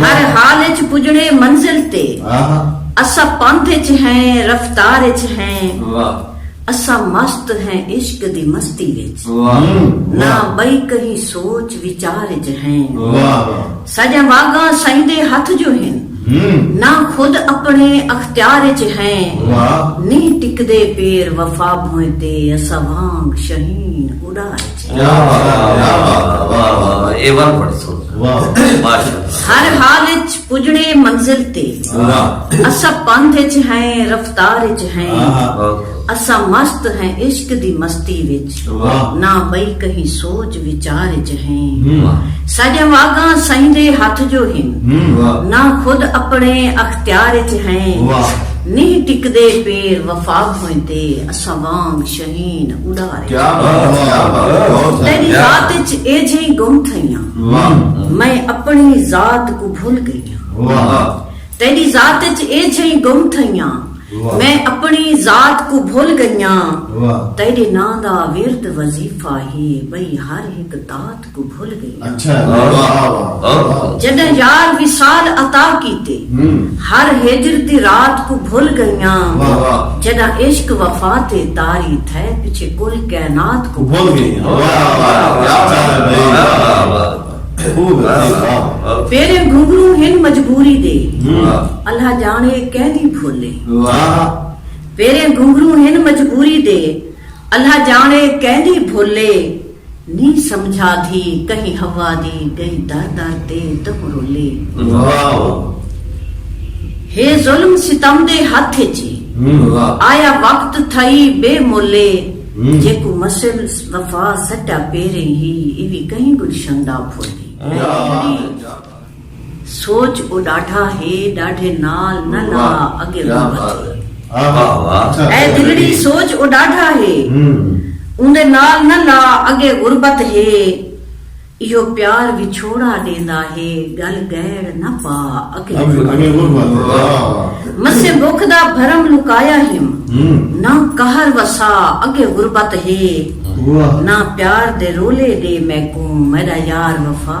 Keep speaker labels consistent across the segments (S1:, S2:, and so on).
S1: ہر حال اچ پجݨے منزل تے۔ اساں پندھ اچ ہیں رفتار اچ ہیں۔ اساں مست ہیں عشق دی مستی وچ۔ نہ ٻئی کہیں سوچ وچار اچ ہیں۔ ساݙیاں واڳاں سئیں دے ہتھ جو ہن۔ نہ خود اپݨے اختیار اچ ہیں۔ نی ٹکدے پیر وفا بھوئیں تے اساں وانگ شہین اݙار اچ ہیں۔ ہر حال اچ پجڑے منزل تے اساں پندھ اچ ہیں رفتار اچ ہیں اساں مست ہیں عشق دی مستی وچ نہ بئی کہیں سوچ وچار اچ ہیں ساڈیاں واگاں سئیں دے ہتھ جو ہن نہ خود اپنے اختیار اچ ہیں نہیں ٹکدے پیر وفا بھوئیں تے اساں وانگ شہین اڑار تیݙی ذات اچ ایجھیں گم تھئیاں میں اپݨی ذات کوں بھل ڳئیاں تیݙی ذات اچ ایجھیں گم تھئیاں میں اپݨی ذات کوں بھل ڳئیاں تیݙے ناں دا ورد وظیفہ ہے ٻئی ہر ہک دات کوں بھل گئیاں۔ جݙاں یار وصال عطا کیتے۔ ہر ہجر دی رات کوں بھل گئیاں۔ جݙاں عشق وفا تے طاری تھئے پچھے کل کائنات کوں بھل گئیاں۔ میݙے گھنگھرو ہن مجبوری دے۔ اللہ ڄاݨے کیندی بھل اے۔ میݙے گھنگھرو ہن مجبوری دے۔ اللہ ڄاݨے کیندی بھل اے۔ نی سمجھا دھی کہیں حوا دی گئی در در تے تہوں رولے۔ واہ و ہے ظلم ستم دے ہتھ اچ ای آیا وقت تھئی بے مولے جیکوں مسل وفا سٹا پیریں ہی ایوی کہیں گلشن دا پھول ای۔ سوچ او ڈاڈھا ہے ڈاڈھے نال نہ لا اگے ہوں بچ اے دلڑی سوچ او ڈاڈھا ہے اوندے نال نہ لا اگے غربت ہے ایہو پیار وچھوڑا ڈیندا ہے گل گیڑ نہ پا اگے غربت مسیں بکھ دا بھرم لکایا ہیم نہ قہر وسا اگے غربت ہے نہ پیار دے رولے ڈے میکوں میڈا یار وفا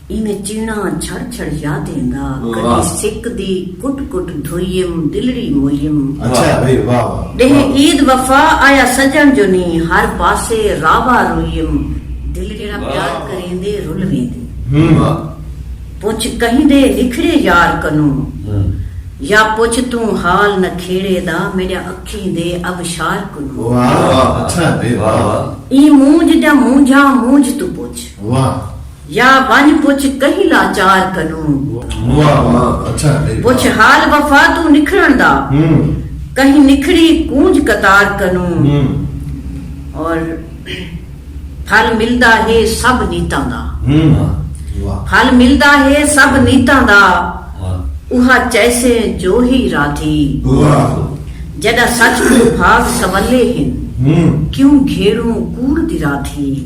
S1: اینویں چیڑاں چھڑ چھڑ یاد ایندا کڈی سک دی کٹ کٹ دھوئیم دلڑی موئیم ڈینہہ عید وفا آیا سجݨ جو نی ہر پاسے راوا روئیم دلڑی جیڑھا پیار کریندے رل ویندے پچھ کہیں دے نکھڑے یار کنوں یا پچھ توں حال نکھیڑے دا میڈیا اکھیں دے ابشار کنوں ایں مونجھ جا مونجھاں مونجھ توں پچھ یا ونڄ پچھ کہیں لاچار کنوں۔ واہ واہ اچھا ہے۔ پچھ حال وفا توں نکھڑݨ دا۔ کہیں نکھڑی کونج قطار کنوں۔ اور پھل ملدا ہے سب نیتاں دا۔ پھل ملدا ہے سب نیتاں دا۔ اوہا چیسیں جو ہی رادھی۔ جݙاں سچ کوں بھاگ سولے ہن۔ کیوں گھیڑوں کوڑ دی رادھی۔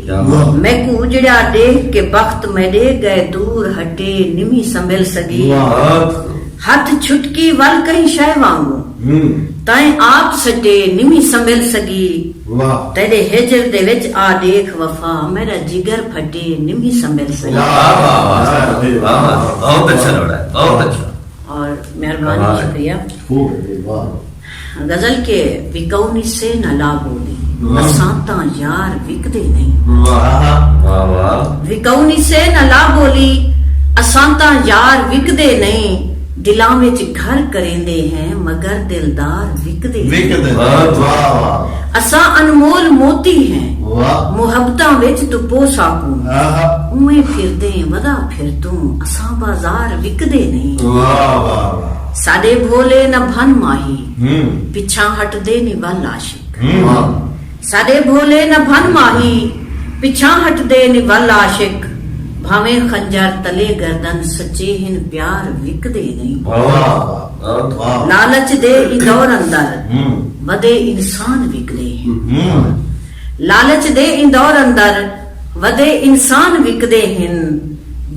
S1: میکوں اجڑیا ڈیکھ کے بخت میڈے گئے دور ہٹے نمی سنبھل سگی ہتھ چھٹکی ول کہیں شے وانگوں تائیں آپ سٹے نمی سنبھل سگی تیڈے ہجر دے وچ آ ڈیکھ وفا میڈا جگر پھٹے نمی سنبھل سگی
S2: اور
S1: مہربانی شکریہ. غزل کے وکؤں نی سے نہ لا بولی۔ اساں تاں یار وکدے نئیں۔ وکؤں نی سے نہ لا بولی۔ اساں تاں یار وکدے نئیں۔ دلاں وچ گھر کریندے ہیں مگر دلدار وکدے نئیں۔ اساں انمول موتی ہیں۔ محبتاں وچ توں پو ساکوں۔ اونویں پھردیں ودا پھر توں۔ اساں بازار وکدے نئیں۔ ساݙے بھولے نہ بھن ماہی پچھاں ہٹدے نی ول عاشق۔ ساݙے بھولے نہ بھن ماہی پچھاں ہٹدے نی ول عاشق بھانویں خنجر تلے گردن سچے ہن پیار وکدے نی لالچ دے ایں دور اندر ودے انسان وکدے ہن لالچ دے ایں دور اندر ودے انسان وکدے ہن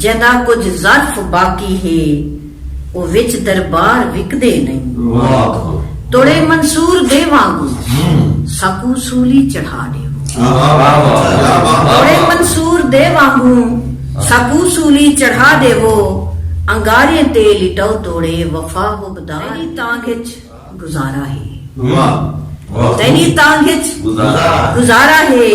S1: جیندا کجھ ظرف باقی ہے او وچ دربار وکدے نئیں۔ توڑے منصور دے وانگوں ساکوں سولی چڑھا ڈیوو۔ توڑے منصور دے وانگوں ساکوں سولی چڑھا ڈیوو۔ انگاریں تے لٹاؤ توڑے وفا حب دا۔ تیڈی تانگھ اچ گزارا ہے۔ تیڈی تانگھ اچ گزارا ہے۔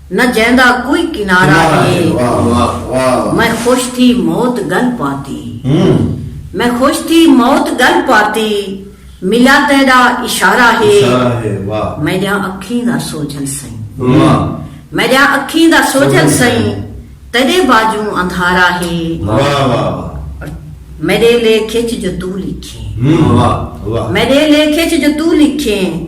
S1: نہ جیندا کوئی کنارہ ہے میں خوش تھی موت گل پاتی میں خوش تھی موت گل پاتی ملا تیڈا اشارہ ہے میڈیاں اکھیں دا سوجھل سئیں میڈیاں اکھیں دا سوجھل سئیں تیڈے باجوں اندھارہ ہے میڈے لے کھچ جو تو لکھیں میڈے لے کھچ جو تو لکھیں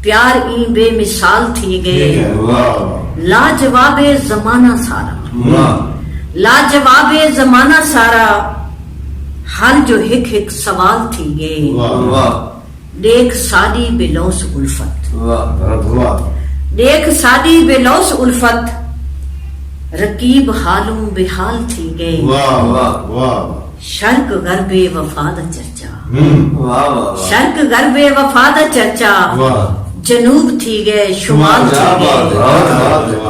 S1: پیار ایں بے مثال تھی گئے۔ لاجواب اے زمانہ سارا۔ لاجواب اے زمانہ سارا۔ ہر جو ہک ہک سوال تھی گئے۔ ڈیکھ ساڈی بے لوث الفت۔ ڈیکھ ساڈی بے لوث الفت۔ رقیب حالوں بے حال تھی گئے۔ شرق غرب اے وفا دا چرچا۔ شرق غرب وفا دا چرچا جنوب تھی گئے شمال تھی گئے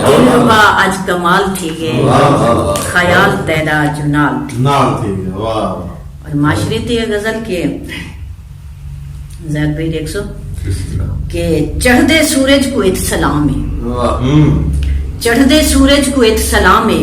S1: دلربا اج کمال تھی گئے خیال تیرا جو نال تھی گئے اور معاشرے تے یہ غزل کہ زید بھائی دیکھ سو کہ چڑھ دے سورج کو ایک سلام ہے چڑھ دے سورج کو ایک سلام ہے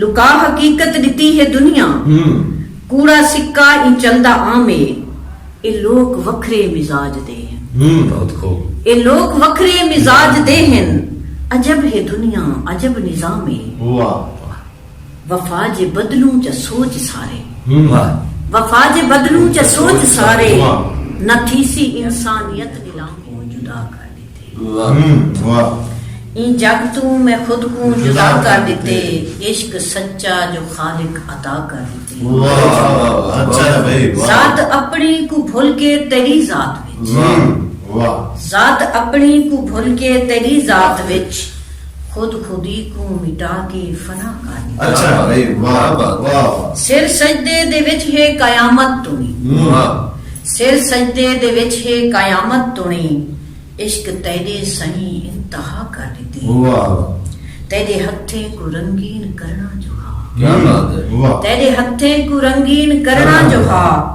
S1: لکا حقیقت ڈتی ہے دنیا کوڑا سکہ ایں چلدا عام اے اے لوک وکھرے مزاج دے ہن
S2: اے لوک وکھرے
S1: مزاج دے ہن عجب ہے دنیا عجب نظام اے وفا جے بدلوں چا سوچ سارے
S2: وفا جے
S1: بدلوں چا سوچ سارے نہ تھیسی انسانیت نیلام اے۔ ایں جگ توں میں خود کوں جدا کر ݙتے عشق سچا جو خالق عطا کر ݙتے ذات اپݨی کوں بھل کے تیݙی ذات وچ ذات اپݨی کوں بھل کے تیݙی ذات وچ خود خودی کوں مٹا کے فنا کر ݙتا۔
S2: سر سجدے
S1: دے وچ ہے قیامت توڑیں۔ سر سجدے دے وچ ہے قیامت توڑیں عشق تیݙے سئیں انتہا کر ݙتی۔ تیݙے ہتھیں کوں رنگین کرݨا جو
S2: ہا۔ تیݙے ہتھیں کوں
S1: رنگین کرݨا جو ہا۔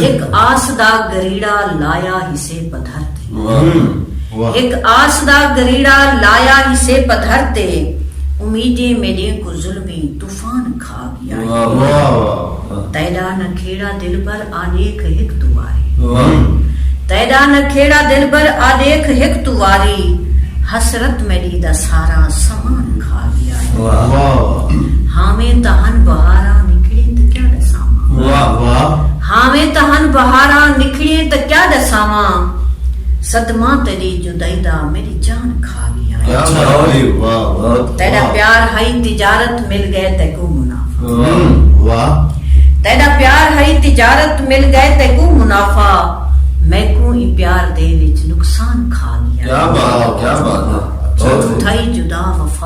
S1: ہک آس دا گریڑا لایا ہسے پدھر تے ہک آس دا گریڑا لایا ہسے پدھر تے امیدیں میڈیں کوں ظلمی طوفان کھا گیا ہے تیڈا نہ کھیڑا دلبر آ ڈیکھ ہک توں واری تیڈا نہ کھیڑا دلبر آ ڈیکھ ہک توں واری حسرت میڈی دا سارا سامان کھا گیا ہے۔ ہاویں تاں ہن بہاراں نکھڑیں تاں کیا ڈساواں ہاویں تاں ہن بہاراں نکھڑیں تاں کیا ڈساواں صدمہ تیری جدائی دا میڈی جان کھا گیا تیرا پیار ہائی تجارت مل گئے تے کو منافع تیرا پیار ہائی تجارت مل گئے تے کو منافع میں کو ہی پیار دے وچ نقصان کھا گیا کیا بات کیا
S2: بات تھائی جدا
S1: وفا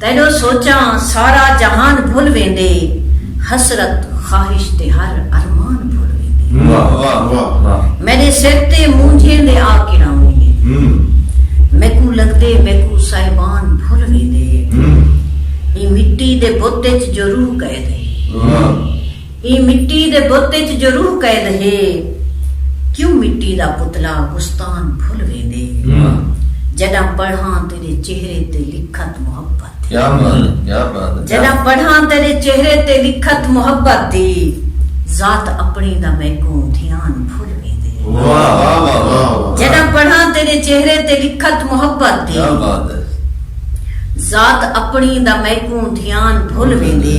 S1: تیݙو سوچاں سارا جہان بھل ویندے حسرت خواہش تے ہر ارمان بھل ویندے میݙے سر تے مونجھیں دے آ کراویں میکوں لڳدے میکوں صاحبان بھل ویندے ایں مٹی دے بت اچ جو روح قید ہے۔ ایں مٹی دے بت اچ جو روح قید ہے۔ کیوں مٹی دا پتلا گستان بھل ویندے۔ جڈاں پڑھاں تیڈے چہرے تے لکھت محبت دی۔
S2: جڈاں پڑھاں تیڈے
S1: چہرے تے لکھت محبت دی۔ ذات اپنی دا میکوں دھیان بھل ویندے۔ جڈاں پڑھاں تیڈے چہرے تے لکھت محبت دی۔ ذات اپنی دا میکوں دھیان بھل ویندے۔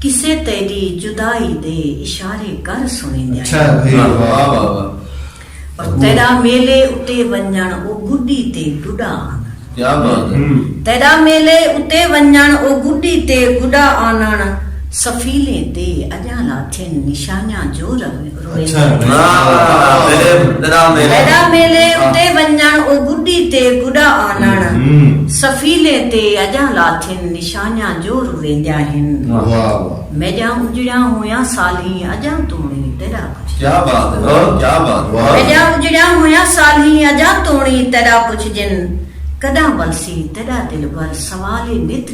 S1: کسے تیڈی جدائی دے اشارے کر سنڑیندے آئے ہن۔ اور تیڈا میلے اتے ونجنڑ او گڈی تے گڈا آنڑنڑ۔
S2: تیڈا میلے
S1: اتے ونجنڑ او گڈی تے گڈا آنڑنڑ سفیلیں تے اجاں لاتھن نشانیاں جو روین۔ میڈا میلے اتے ونجن او گڈی تے گڈا آنن سفیلے تے اجاں لاتھن نشانیاں جو رویندیاں ہن میڈا اجڑیاں ہویاں سالھیں اجاں تونی تیرا
S2: کچھ کیا بات ہے کیا بات میڈا اجڑیاں
S1: ہویاں سالھیں اجاں تونی تیرا کچھ جن کڈاں ولسی تیرا دلبر سوال نت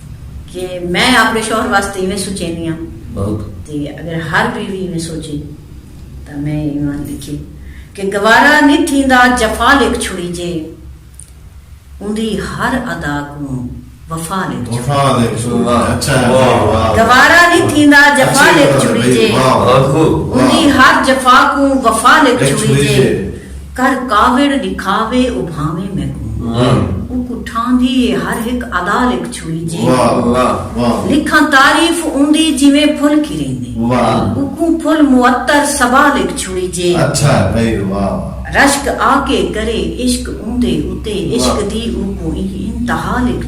S1: کہ میں آپݨے شوہر واسطے ایویں سوچیندی ہاں تے
S2: اگر ہر
S1: بیوی ایویں سوچے تاں میں ایوان لکھے کہ گوارا نی تھیندا جفا لکھ چھڑیجے اوندی ہر ادا کوں وفا لکھ چھڑیجے
S3: گوارا
S1: نی تھیندا جفا لکھ چھڑیجے اوندی ہر جفا کوں وفا لکھ چھڑیجے۔ کر کاوڑ ڈکھاوے او بھانویں میکوں اوکوں ٹھاندی اے ہر ہک ادا لکھ چھوڑی جی لکھاں تعریف اوندی جیویں پھل کھریندے اوکوں پھل معطر صبا لکھ چھوڑی جے
S3: رشک آکے
S1: کرے عشق اوندے اتے عشق دی اوکوں ایں انتہا لکھ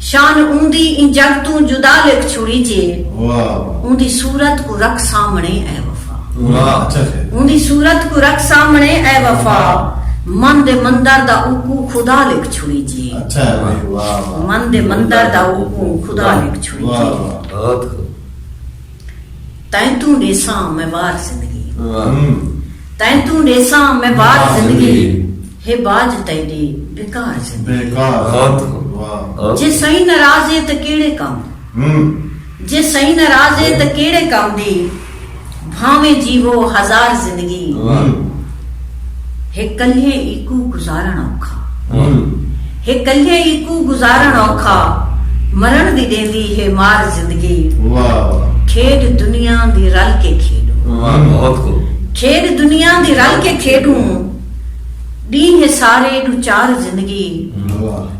S1: شان اوندی ایں جگ توں جدا لکھ چھوڑیجے۔ اوندی صورت کوں رکھ سامنڑے اے وفا۔
S3: اوندی صورت کوں رکھ
S1: سامنڑے اے وفا۔ من دے مندر دا اوکوں خدا لکھ چھوڑیجے۔
S3: من دے مندر
S1: دا اوکوں خدا لکھ چھوڑیجے۔ تئیں توں ݙیساں میں وار زندگی۔ تئیں توں ݙیساں میں وار زندگی۔ ہے باجھ تیݙی بیکار زندگی۔
S3: جے سئیں
S1: ناراض ہے تاں کیڑھے کم دی۔ جے سئیں ناراض ہے تاں کیڑھے کم دی۔ بھانویں جیوو ہزار زندگی۔ ہے کلھے ایکوں گزارݨ اوکھا۔ ہے کلھے ایکوں گزارݨ اوکھا۔ مرݨ دی ݙیندی ہے مار زندگی۔
S3: کھیݙ
S1: دنیا دی رل کے کھیݙوں۔
S2: کھیݙ دنیا
S1: دی رل کے کھیݙوں۔ ݙینہہ سارے ݙو چار زندگی۔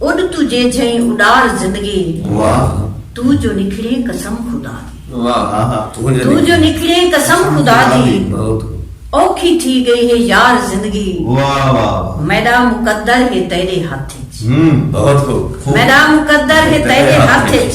S1: اݙ توں جے جھئیں اݙار زندگی واہ۔ توں جو نکھڑیں قسم خدا دی۔ واہ توں جو نکھڑیں قسم خدا دی۔ بہت اوکھی تھی ڳئی ہے یار زندگی۔ واہ واہ واہ۔ میݙا مقدر ہے تیݙے ہتھ اچ۔
S2: ہوں بہت خوب۔ میݙا مقدر
S1: ہے تیݙے ہتھ اچ۔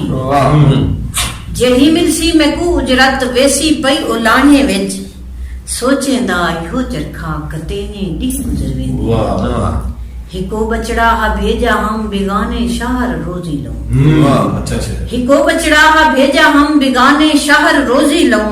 S1: واہوں جیڑھی ملسی میکوں اجرت ویسی پئی اولانہیں وچ سوچیں دا ایہو چرخا کتینیں ݙینہہ گزر ویندے
S3: ہکو
S1: ٻچڑا ہا بھیجا ہم بیگانے شہر روزی لوں
S3: ہکو ٻچڑا ہا
S1: بھیجا ہم بیگانے شہر روزی لوں